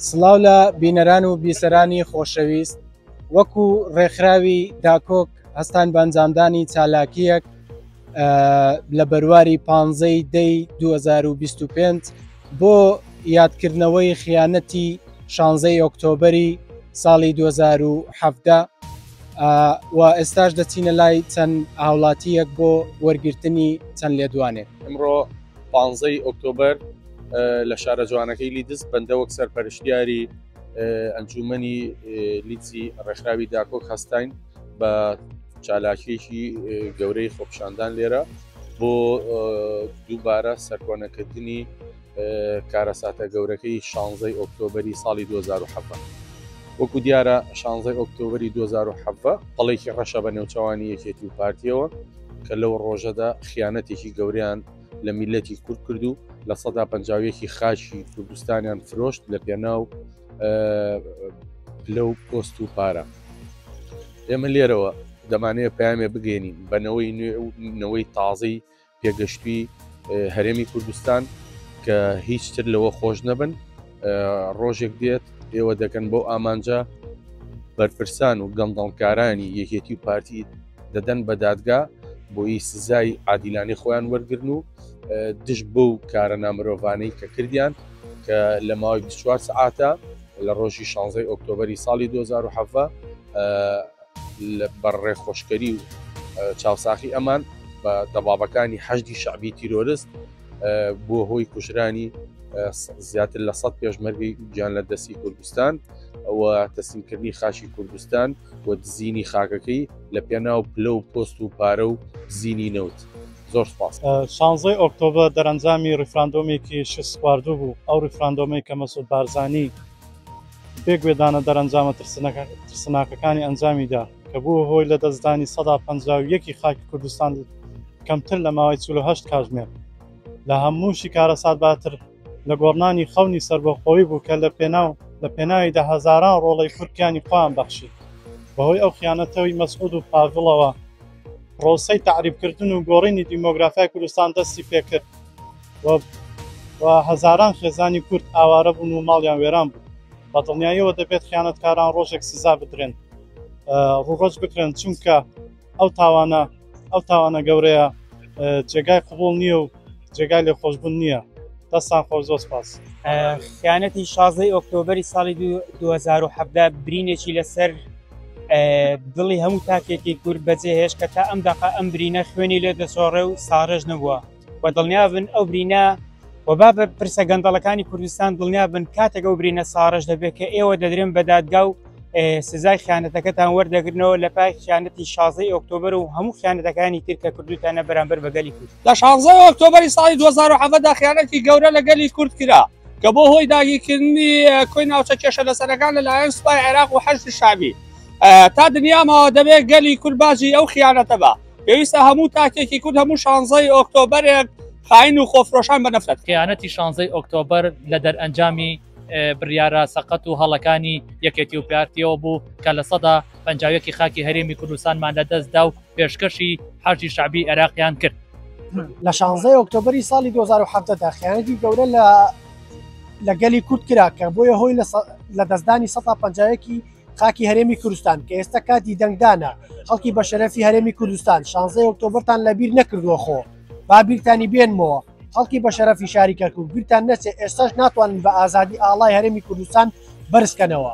سڵاو لە بینەران و بیسەرانی خۆشەویست وەکو ڕێکخراوی داکۆک هەستان بەنجامدانی چالاکیەک لە بەرواری پانزەی دەی 2025 بۆ یادکردنەوەی خیانەتی شانزەی ئۆکتۆبری ساڵی 2017 و ئێستاش دەچینە لای چەند هاوڵاتییەک بۆ وەرگرتنی چەند لێدوانێک. ئمڕۆ پانزە ی ئۆکتۆبەر لە شارە جوانەکەی لیدز بەندە وەک سەرپەرشتیاری ئەنجوومەنی لیدزی ڕێکخراوی داکۆک هەستاین بە چالاکیەکی گەورەی خۆپیشاندان لێرە بۆ دووبارە سەرکۆنەکردنی کارەساتە گەورەکەی شانزەی ئۆکتۆبری ساڵی 2017 وەکو دیارە شانزەی ئۆکتۆبری 2017 پڵێکی ڕەشە بە نێوچەوانی یەکێتی و پارتیەوە کە لەو ڕۆژەدا خیانەتێکی گەوریان لە میلەتی کورد کرد و لە سەدا پنجاویەکی خاچی کوردستانیان فرۆشت لە پێناو پلە و پۆست و پارە ئێمە لێرەوە دەمانەیە پامێ بگەێنین بەنەوەی نوێ و نەوەی تازەی پێگەشتووی هەرێمی کوردستان کە هیچتر لەوە خۆش نەبن ڕۆژێک دێت ئێوە دەکەن بۆ ئامانجە بەرپرسان و گەندەڵکارانی یەکێتی و پارتی دەدەن بە دادگا بۆی سزای عادیلانی خۆیان وەرگرن و دژ بەو کارە نامرۆڤانەی کە کردیان کە لە ماوەی 24 سعاتە لە ڕۆژی 16 ئۆکتۆبری ساڵی 2010 لەبەر ڕێخۆشکەری و چاوساخی ئەمان بە دەبابەکانی حەشدی شعبی تیرۆرست بۆ هۆی کوژرانی زیاتر لە سە پێشمەرگی گیان لە دەستی کوردستان و تەسیمکردنی خاشی کوردستان و دزینی خاکەکەی لە پێناو پلە و پۆست و پارە و زینی نەوت زۆر سپاس شانزەی ئۆکتۆبە دەرەنجامی ڕیفراندۆمێکی شسخواردو بوو ئەو ڕیفراندۆمەی کە مەسود بارزانانی بێ گوێدانە دەرەنجامە ترسناکەکانی ئەنجامیدا کە بووە هۆی لە دەستدانی سەدا پەنجا و یەک ی خاکی کوردستان کەمتر لە ماوەی چل و هەشت کاژمێر لە هەمووشی کارەساتباتر لە گۆڕنانی خەونی سەربەخۆی بوو کە لە پێناو لە پێناویدا هەزاران ڕۆڵەی کورد گیانی خۆیان بەخشی بەهۆی ئەو خیانەتەوەی مەسعود و پاڤڵەوە پڕۆسەی تەعریبکردن و گۆڕینی دیمۆگرافیای کوردستان دەستی پێکرد. و و هەزاران خێزانی کورد ئاوارە بوون و ماڵیان وێران بوو. بە دڵنیاییەوە دەبێت خیانەتکاران ڕۆژێک سزا بدرێن، ڕووڕەج بکرێن، چونکە ئەو تاوانە ئەو تاوانە گەورەیە جێگای قبوڵ نییە و جێگای لێخۆشبوون نییە. دەستان خۆش زۆر سپاس. خیانەتی شازدەی ئۆکتۆبری ساڵی 2017 برینێکی لەسەر دڵی هەموو تاکێکی کورد بەجێهێش کە تا ئەم دەقا ئەم برینە خوێنی لێ دەسۆڕێ و ساڕێژ نەبووە. و دڵنیابن ئەو برینە و با بە پرسە گەندەڵەکانی کوردستان دڵنیابن کاتێک ئەو برینە ساڕژ دەبێت کە ئێوە دەدرێن بە دادگا و سزای خیانەتەکەتان وەردەگرنەوە لە پای خیانەتی شازی ئۆکتۆبر و هەموو خیانەتەکانی تر کە کردوتانە بەرامبەر بە گەلی کورد لە شازە ئۆکتۆبری ساڵی 2010دا خیانەتی گەورە لە گەلی کورد کرا کە بۆ هۆی داگیرکردنی کۆی ناوچە کێشە لەسەرەکان لەلایەن سوپای عێراق و حەشد شابی تا دنیامەوە دەبێت گەلی کورد باجی ئەو خیانەتە بە پێویستە هەموو تاکێکی کورد هەموو شانزەی ئۆکتۆبرێک خاین و خۆفرۆشان بە نەفرەت خیانەتی شانزەی ئۆکتۆبر لە دەرئەنجامی بریارە سەقەت و هەڵەکانی یەکێتی و پارتیەوە بوو کە لە سەدا پنجاوێکی خاکی هەرێمی کوردستانمان لە دەستدا و پێشکەشی حەشی شعبی عێراقیان کرد لە شانزەی ئۆکتۆبری ساڵی 2010دا خیانەتی گەورە لە لە گەلی کورد کرا کە بۆیە هۆی لە دەستدانی 150ەکی خاکی هەرێمی کوردستان کە ئێستا کاتی دەنگدانە خەڵکی بە شەرەفی هەرێمی کوردستان شانزەی ئۆکتۆبرتان لە بیر نەکردووە خۆ با بیرتانی بێنمەوە خەڵکی بە شەرەفی شاری کەرکک بیرتان نەچێت ئێستاش ناتوانن بە ئازادی ئاڵای هەرێمی کوردستان بەرزکەنەوە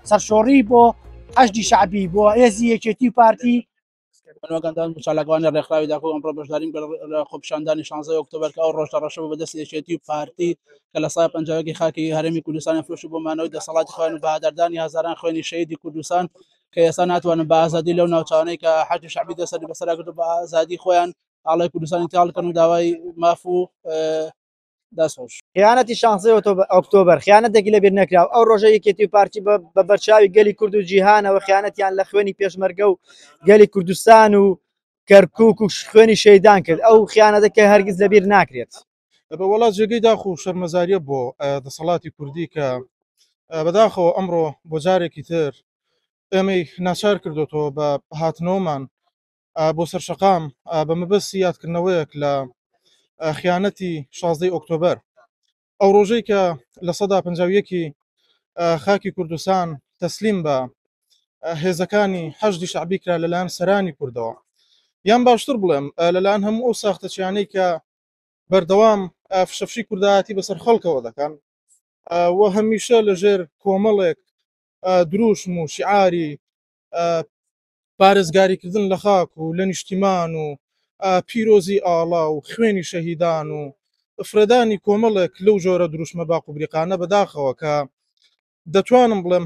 سەرشۆڕی بۆ هەشتی شعبی بۆ هێزی یەکێتی پارتی بەنواگەندان چالاکوانی ڕێکخراوی داخۆ ئەمڕۆ بەشداریم لە خۆپیشاندانی 16 ئۆکتۆبر کە ئەو ڕۆژە ڕەشە بە دەست یەکێتی و پارتی کە لە سای پنجاوێکی خاکی هەرێمی کوردستانی فرۆش بۆ مانەوەی دەسەڵاتی خوێن و بەهاداردانی هزاران خوێنی شەیدی کوردستان کە ئێستا ناتوانن بە ئازادی لەو ناوچانەی کە حاکی شعبی دەسەری بەسەراگرتو بە ئازادی خۆیان ئاڵای کوردستانی تاڵکەن و داوای ماف و دەسۆش خیانەتی شانسی ئۆکتۆبر خیانەتێکی لەبیر نەکراو ئەو ڕۆژە یەکێتی و پارتی بە بەرچاوی گەلی کورد و جیهانەوە خیانەتیان لە خوێنی پێشمەرگە و گەلی کوردستان و کەرکک و خوێنی شەیدان کرد ئەو خیانەتەکە هەرگیز لەبیر ناکرێت بە وڵات جێگەی داخ و شەرمەزاریە بۆ دەسەڵاتی کوردی کە بەداخەوە ئەمڕۆ بۆ جارێکی تر ئێمەی ناچار کردوەوە بە هاتنەوەمان بۆ سەر شەقام بە مەبەستی یادکردنەوەیەک لە خیانەتی شازدەی ئۆکتۆبەر ئەو ڕۆژەی کە لە سەدا پنجاویەکی خاکی کوردستان تەسلیم بە هێزەکانی حەشدی شعبی کرا لەلایەن سەرانی کوردەوە یان باشتر بڵێم لەلایەن هەموو ئەو ساختەچیانەی کە بەردەوام فشەفشی کوردایەتی بەسەر خەڵکەوە دەکەن و هەمیشە لەژێر کۆمەڵێک دروشم و شعاری پارێزگاریکردن لە خاک و لە نیشتیمان و پیرۆزی ئاڵا و خوێنی شەهیدان و فرەدانی کۆمەڵێک لەو جۆرە دروشمە باق و بریقانە بەداخەوە کە دەتوانم بڵێم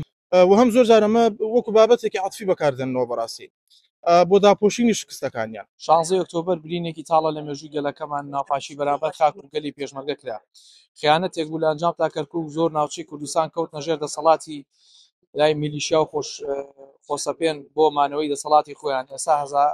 وەهم زۆر جار ئەمە وەکو بابەتێکی عەتفی بەکاردێننەوە بەڕاستی بۆ داپۆشینی شکستەکانیان. شانزەی ئۆکتۆبەر برینێکی تاڵە لە مێژووی گەلەکەمان، ناپاکی بەرامبەر خاک و گەلی پێشمەرگە کرا، خیانەتێک بوو لە ئەنجامدا کەرکووک زۆر ناوچەی کوردستان کەوتنە ژێر دەسەڵاتی لای میلیشیا و خۆش خۆسەپێن بۆ مانەوەی دەسەڵاتی خۆیان ئێستا هەزا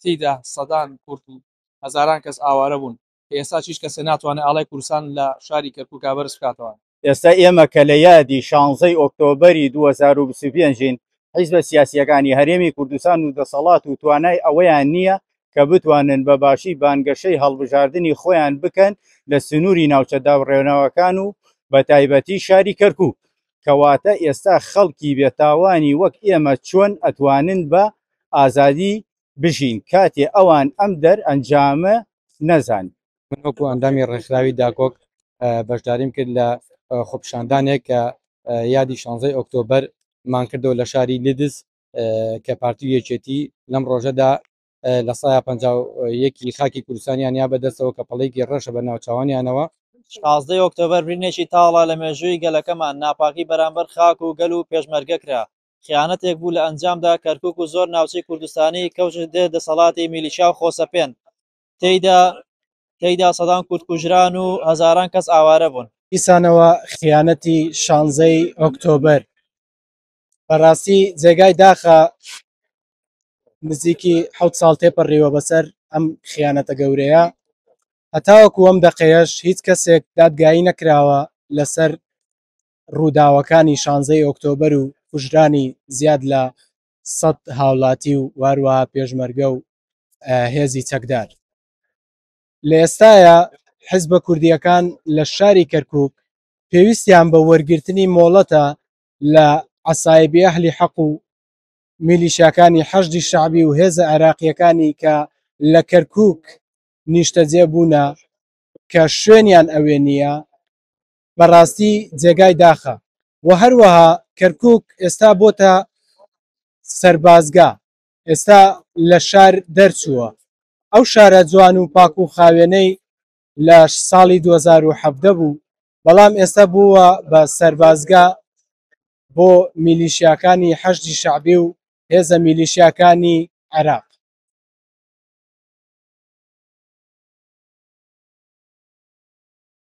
تیدا سەدان کورد و هەزاران کەس ئاوارە بوون کە ئێستا چیش کەسێ ناتوانێ ئاڵای کوردستان لە شاری کەرکوکا بەرز بکاتەوە. ئێستا ئێمە کە لە یادی شانزەی ئۆکتۆبەری دوو هەزار و بیست و پێنج ین، حیزبە سیاسییەکانی هەرێمی کوردستان و دەسەڵات و توانای ئەوەیان نییە کە بتوانن بە باشی بانگەشەی هەڵبژاردنی خۆیان بکەن لە سنووری ناوچە دابڕێنەوەکان و بە تایبەتی شاری کەرکوک. کەواتە ئێستا خەڵکی بێتاوانی وەک ئێمە چۆن ئەتوانن بە ئازادی بژین کاتێ ئەوان ئەم دەر ئەنجامە نەزان. من وەکو ئەندامی ڕێکخراوی داکۆک بەشداریم کرد لە خۆپیشاندانێک کە یادی شانزەی ئۆکتۆبەر مان کردەوە لە شاری لیدز کە پارتی و یەکێتی لەم ڕۆژەدا لە سایە پ یەکی خاکی کوردستانیان یا بەدەستەوە کە پەڵێکی ڕەشە بە ناوچوانیانەوە. شازدەی ئۆکتۆبەر برینێکی تاڵە لە مێژووی گەلەکەمان، ناپاکی بەرامبەر خاک و گەل و پێشمەرگە کرا، خیانەتێک بوو لە ئەنجامدا کەرکوک و زۆر ناوچەی کوردستانی کەوتە ژێر دەسەڵاتی میلیشیا و خۆسەپێن تێیدا، تێیدا سەدان کورد کوژران و هەزاران کەس ئاوارە بوون. دیسانەوە خیانەتی شانزەی ئۆکتۆبەر بەڕاستی جێگای داخە نزیکی حوت ساڵ تێپەڕیوە بەسەر ئەم خیانەتە گەورەیە هەتاوەکو ئەم دەقەیەش هیچ کەسێک دادگایی نەکراوە لەسەر ڕووداوەکانی شانزەی ئۆکتۆبەر و کوژرانی زیاد لە سەد هاوڵاتی و واروە پێشمەرگە و هێزی چەکدار لە ئێستاە حزبە کوردیەکان لە شاری کەرکک پێویستیان بە وەرگرتنی مۆڵەتە لە عەسایبی ئەهلی حەق و میلیشیاکانی حەشدی شەعبی و هێزە عێراقییەکانی کە لە کەرکووک نیشتەجێ بوونە کە شوێنیان ئەوێ نییە بەڕاستی جێگای داخە و هەروەها کەرکووک ئێستا بۆتە سەربازگە ئێستا لە شار دەرچووە ئەو شارە جوان و پاک و خاوێنەی لە ساڵی 2017 بوو بەڵام ئێستا بووە بە سەربازگە بۆ میلیشیاکانی حەشدی شەعبی و هێزە میلیشیاکانی عێراق